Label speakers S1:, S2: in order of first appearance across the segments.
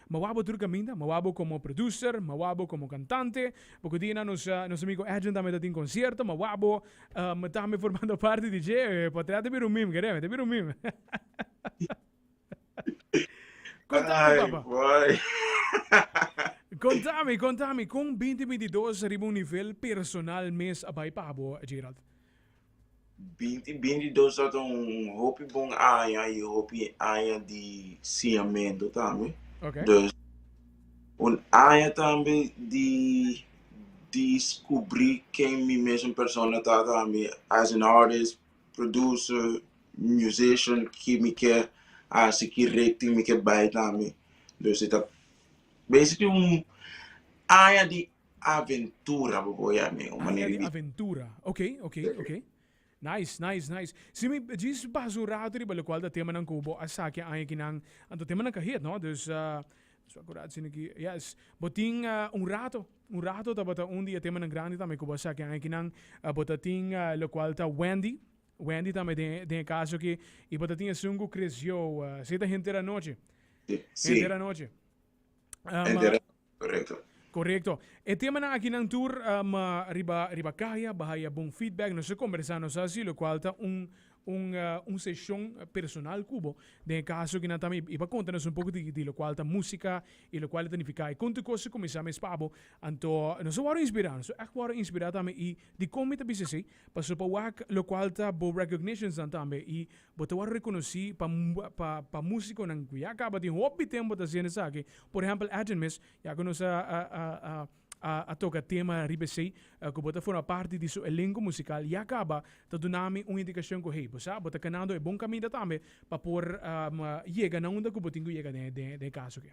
S1: Mawabo tur kaminda, mawabo komo producer, mawabo komo kantante, poko dianan nos nos amigo Edwin tambe ta tin konsierto, mawabo tambe formando parti di dje potret ta bira un meme kere, ta bira un meme. Kontami papa,
S2: kontami
S1: kontami kon binti binti dos riba un nivel personal mes a bai pa bo Gerald? Binti binti
S2: dos ta ta un hopi bon aña y hopi aña di siamento tambe. Okay. Dus un aña tambe di descubri ken mi mesun persona ta tambe as an artist, producer, musician ki mi ke hasi ki richting mi ke bay tambe. Dus e ta basically un aña di aventura bo bo ya mi un manera di. Aventura
S1: ok ok ok nice nice nice si mi djis basa un rato riba locual ta temanan cu bo a saki aña aki nan anto temanan ca heet no dus a cu rato sino ki yes bo tin un rato un rato tabata un di e temanan grandi tambe cu bo a saki aña aki nan bo ta tin locual ta Wendy Wendy tambe den den e caso aki y bo ta tin esun cu creció esey ta henter anochi henter
S2: anochi. Korekto. Korekto. E
S1: temanan akinan tur ma riba riba kaya baha ya bon feedback. Nos a kombersá, nos a hasi lokual ta un un un seshon personal ku bo den e kaso akinan tambe i pa konta nos un poko di di lokual ta músika i lokual e ta nifiká i kon tur kos a kuminsá mes pa bo. Anto nos a wòrdu inspirá, nos a ègt wòrdu inspirá tambe i dikon mi ta bisa esei? Pasó pa wak lokual ta bo recognitions nan tambe i Bo ta wòrdu rekonosí pa músikonan ku ya kaba tin hopi di tempu ta hasiendo esaki. Por ehèmpel Adonmis, ya ku nos a toka tema riba esei, ku bo ta forma parti di su elenko musikal, ya kaba ta duna mi un indikashon ku hey, bo sa, bo ta kanando e bon kaminda tambe pa por yega na unda ku bo tin ku yega den e kaso aki.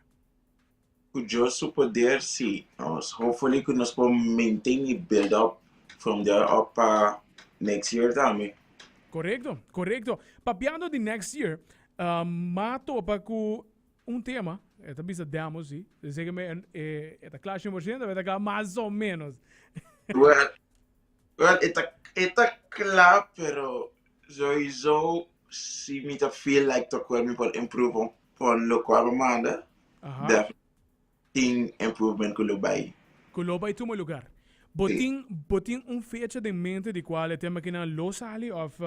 S1: Ku Dios
S2: su poder, sí. Nos hopefully ku nos por maintain y build up from there up pa next year tambe. Korekto,
S1: korekto. Papiando di next year, m'a topa ku un tema, e ta bisa demo si, den seke me e ta kla shen por shento of e ta kla mas o menos? Well,
S2: well e ta e ta kla pero soizo Si mi ta feel like ta cual mi por improve un pon lo cu abo manda, definitely tin improvement cu lo bay. Cu lo bay tuma
S1: lugar. Bo tin, bo tin un fecha den mente di cual e tema kinan lo sali of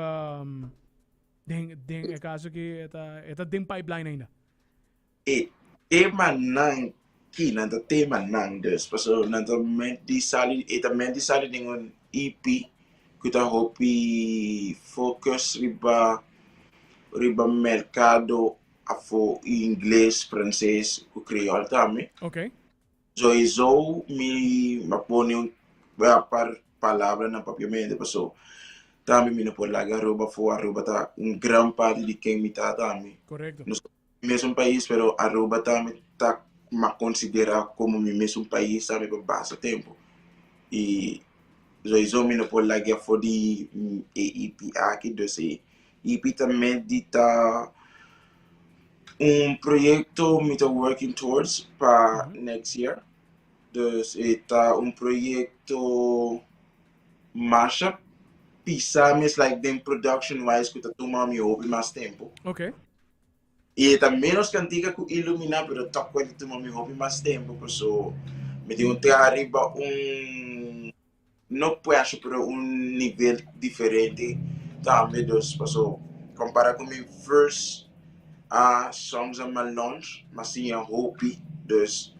S1: den, den e caso cu e ta, e ta den pipeline ainda? E
S2: temanan ki nan ta tema nan dus paso nan ta ment di sali e ta ment di sali den un EP ku ta hopi focus riba riba merkado afo i ingles, franses ku kreol tambe. Ok.
S1: So esou
S2: mi a pone un par palabranan papiamente paso tambe mi no por laga Aruba afo, Aruba ta un gran parti di ken mi ta tambe. Correcto. Nos ta
S1: mesun pais
S2: pero Aruba ta mi ta ma considera como mi mesun pais sa mi pa basta tempo y soiso mi no por lag'e afo di e EP aki dus e EP ta met di ta un proyecto mi ta working towards pa next year dus e ta un proyecto mashup pisa mi es like den production wise cu ta tuma mi hopi mas tempo. Okay.
S1: I e
S2: ta menos kantika ku iluminá, pero tòg ku a ta tuma mi hopi mas tempu, paso mi tin un traha riba un, no prèshè, pero un nivel diferente tambe. Dus paso kompará ku mi first Songs and my Lunch m'a siña hopi. Dus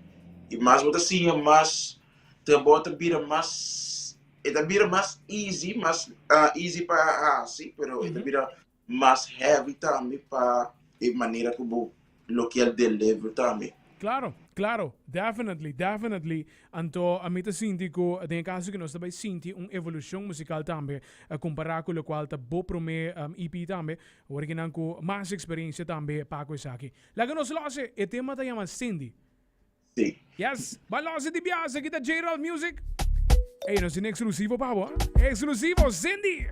S2: i mas bo ta siña mas, trabou ta bira mas, e ta bira mas easy, mas easy pa hasi, pero e ta bira. Mas heavy tambe pa e manera ku bo lo kier deliver tambe. Klaro, klaro,
S1: definitely, definitely. Anto a mi ta sinti ku den e kaso ku nos ta bai sinti un evolushon musikal tambe kompará ku lokual ta bo promé EP tambe, wòrdu kinan ku mas eksperensia tambe pa ku esaki. Laga nos lòse, e tema ta yama Cindy. Sí.
S2: Yes, b'a
S1: lòse di bias, aki ta J-Ralph Music. Ey, nos tin eksklusivo pa bo, eksklusivo, Cindy!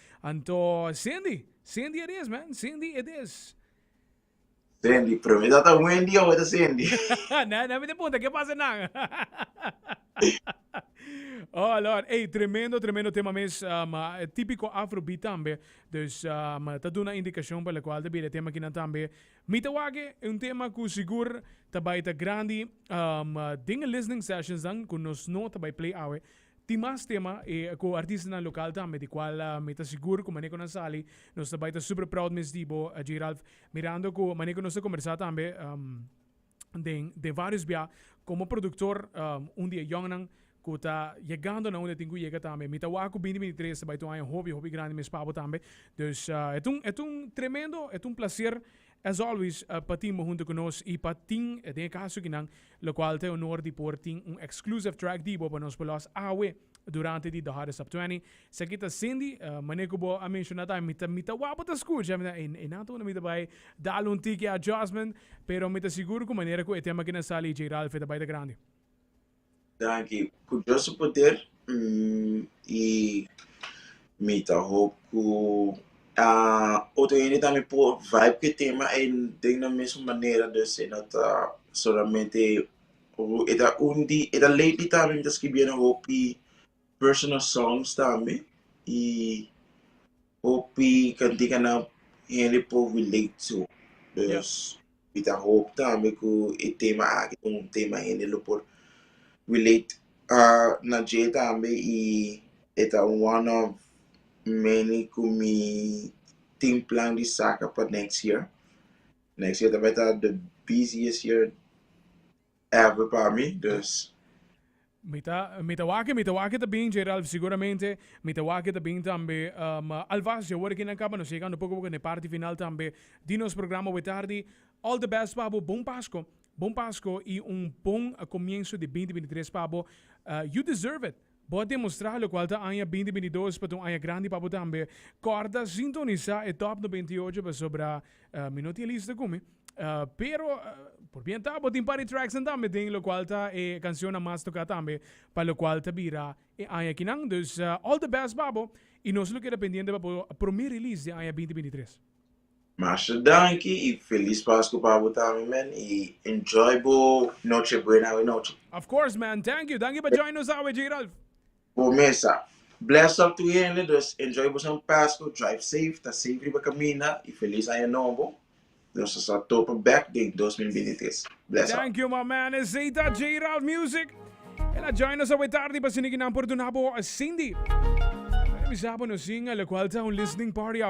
S1: Anto Cindy, Cindy it is man, Cindy it is.
S2: Cindy, pero mi dat a Wendy o ta Cindy? na, na mi te
S1: punta, ke pasa nan? oh Lord, hey, tremendo, tremendo tema mes, um, uh, típico afrobeat tambe. Dus um, ta duna indicacion pa la cual te bira tema kinan tambe. Mi ta wake un tema ku sigur ta bai ta grandi um, uh, dinge listening sessions dan ku nos no ta bai play awe. Tin mas tema e cu artistanan local tambe di cual mi ta sigur cu maneco nan sali nos ta bay ta super proud mes di bo J. Ralph. Mirando cu maneco nos ta conversa tambe den den varios bia como productor un di e jongnan cu ta yegando na un e tin cu yega tambe mi ta waga cu binti binti tres ta bay ta un aña hopi hopi grandi mes pa bo tambe. Dus e ta un e ta un tremendo e ta un placer As always pa tin bo hunto cu nos y pa tin den e caso akinan locual ta e honor di por tin un exclusive track di bo pa nos por los awe durante di The Hottest Top Twenty. Esaki ta Cindy, mane cu bo a menciona ta mi ta mi ta wou pa ta scucha mi ta ey ey nan ta unda mi ta bay dal un tiki adjustment pero mi ta sigur cu manera cu e tema akinan sali J Ralph e ta bay ta grandi. Danki
S2: ku Dios su poder i mi ta hoop ku otro hende tambe por vibe ku e tema ei den nan mesun manera dus e no ta solamente e ta un di e ta lately tambe mi ta skibiendo hopi personal songs tambe i hopi kantikannan hende por relate to. Mi ta hoop tambe ku e tema aki ta un tema hende lo por relate na dje tambe i e ta one of many ku mi tin plan di saka pa next year. Next year ta bai ta the busiest year. Ever pa mi dus. Mi ta mi ta wak
S1: mi ta wak ta bin Geralf seguramente mi ta wak ta bin tambe um, alvast ya ora kinan kaba nos yegando poko poko ne parti final tambe di nos programa we tardi all the best pa bo bon pasko bon pasko y un bon comienzo di binti binti tres pa bo you deserve it. Bo a demostrá lokual ta aña binti binti dos pa ta un aña grandi pa bo tambe. Kòrda sintonisá e Top noventa i ocho pasobra mi no tin lista ku mi, pero por pientá bo tin par di tracksnan tambe den lokual ta e kanshonnan mas toká tambe pa lokual ta bira e aña akinan. Dus all the best pa bo i nos lo keda pendiente pa bo promé release di aña binti binti tres. Master
S2: danki y feliz pascu pa bo tambe man y enjoy bo noche buena awe noche. Of course man
S1: thank you danki pa join nos awe Gerald. Bo mesa.
S2: Bless up tu hende dus enjoy boso pascu drive safe ta safe riba caminda y feliz aña nobo nos ta sa topa back den dos mil binti tres bless up. Thank you my man esey
S1: ta Gerald music el a join nos awe tardi pa sini ki nan por duna bo Cindy. Mari bisa bo nos single cual ta un listening party awe.